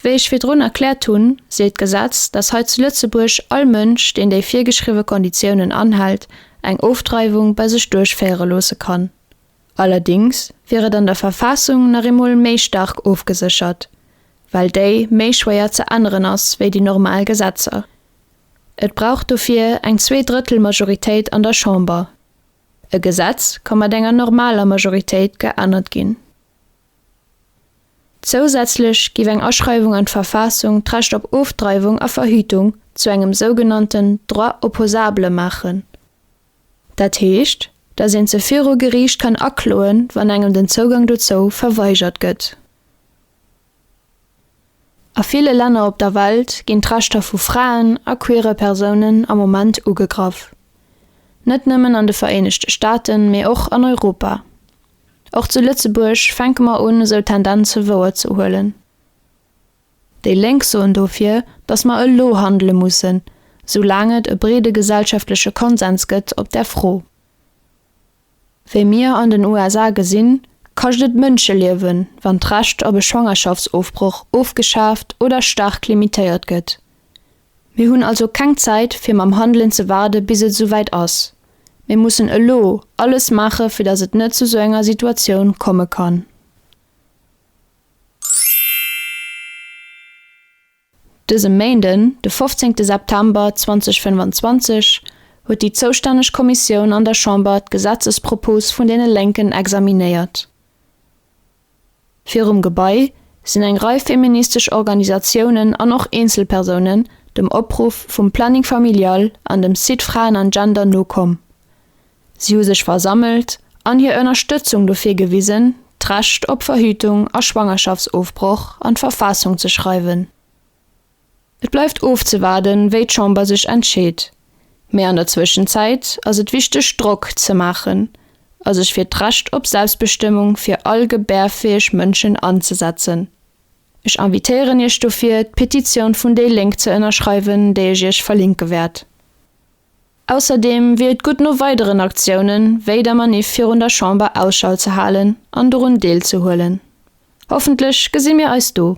Wéi ech virdrun erkläert hunn, seet d'Gesetz, dass hei zu Lëtzebuerg all Mënsch, deen déi virgeschriwwe Konditiounen anhält, eng Ofdreiwung bei sech duerchféiere loosse kann. Allerdings wier et an der Verfassung nach eemol méi staark ofgeséchert, well déi méi schwéier ze änneren ass wéi déi normal Gesetzer. Et brauch dofir eng Zweedrëttelmajoritéit an der Chamber. E Gesetz ka mat enger normaler Majoritéit geännert ginn. Zousätzlech géif eng Aschreiwung an d'Verfassung d'Recht op Ofdreiwung a Verhütung zu engem sougenannten Droit opposable maachen. Dat heescht, datt een se viru Geriicht kann akloen, wann engem den Zougang dozou verweigert gëtt. A ville Länner op der Welt ginn d'Rechter vu Fraen a queere Persounen am Moment ugegraff. Net nëmmen an de Vereenegte Staaten, mee och an Europa. Och zu Lëtzebuerg fänke mer un, esou Tendenze wouer ze huelen. Déi Lénk soen dofir, datt mer elo handele mussen, soulaang et e breede gesellschaftleche Konsens gëtt op där Fro. Wéi mir an den USA gesinn, kascht et Mënscheliewen, wann d'Recht op e Schwangerschaftsofbroch ofgeschaaft oder staark limitéiert gëtt. Mir hunn also keng Zäit fir mam Handelen ze waarde bis et esouwäit ass. Mir mussen elo alles maache fir datt et net zu esou enger Situatioun komme kann. Dëse Méinden, de 15 September 2025, huet déi zoustänneg Kommissioun an der Chamber d'Gesetzespropos vun deene Lénken examinéiert. Virum Gebai sinn eng Rei feministesch Organisatiounen an och Eenzelpersounen dem Opruff vum Planning Familial an dem Site Fraen an Gender nokomm. Si hu sech versammelt an hir Ënnerstëtzung dofir gewisen, d'Recht op Verhütung a Schwangerschaftsofbroch an d'Verfassung ze schreiwen. Et bleift ofzewaarden, wéi d'Chamber sech entscheet, mee an der Zwëschenzäit ass et wichteg Drock ze maachen a sech fir d'Recht op Selbstbestëmmung fir all gebärfäeg Mënschen anzesetzen. Ech invitéieren Iech dofir, d'Petitioun vun déi Lénk ze ënnerschreiwen, déi ech Iech verlinke wäert. Ausserdeem wier et gutt no weideren Aktiounen wéi der Maniff virun der Chamber Ausschau ze halen an dorun deelzehuelen. Hoffentlech gesi mir eis do.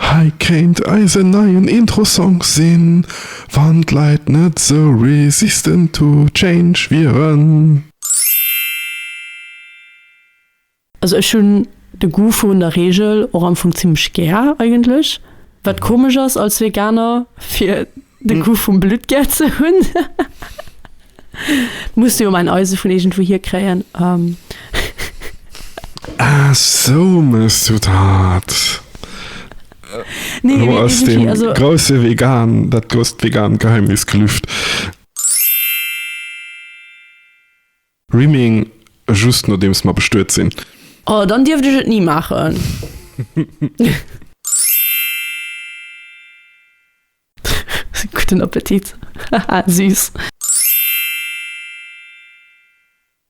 Hei kéint eisen neien Intro-Song sinn, wann d'Leit net sou resistant to change wieren. Also ech hunn de Goût vun der Reegel och am Fong zimmlech gär eigentlech, wat komesch ass als Veganer fir De Goût vum Blutt gär ze hunn. Muss jo mäin Eise vun iergendwou hier kréien. Ah sou mëss du dat. Lo ass dee grousse Vegan, dat grousst Vegan Geheimnis gelüft. Rimming, just nodeems mer bestuet sinn. Oh, dann dierft ech et ni maachen. Gudden Appetit, haha, süß.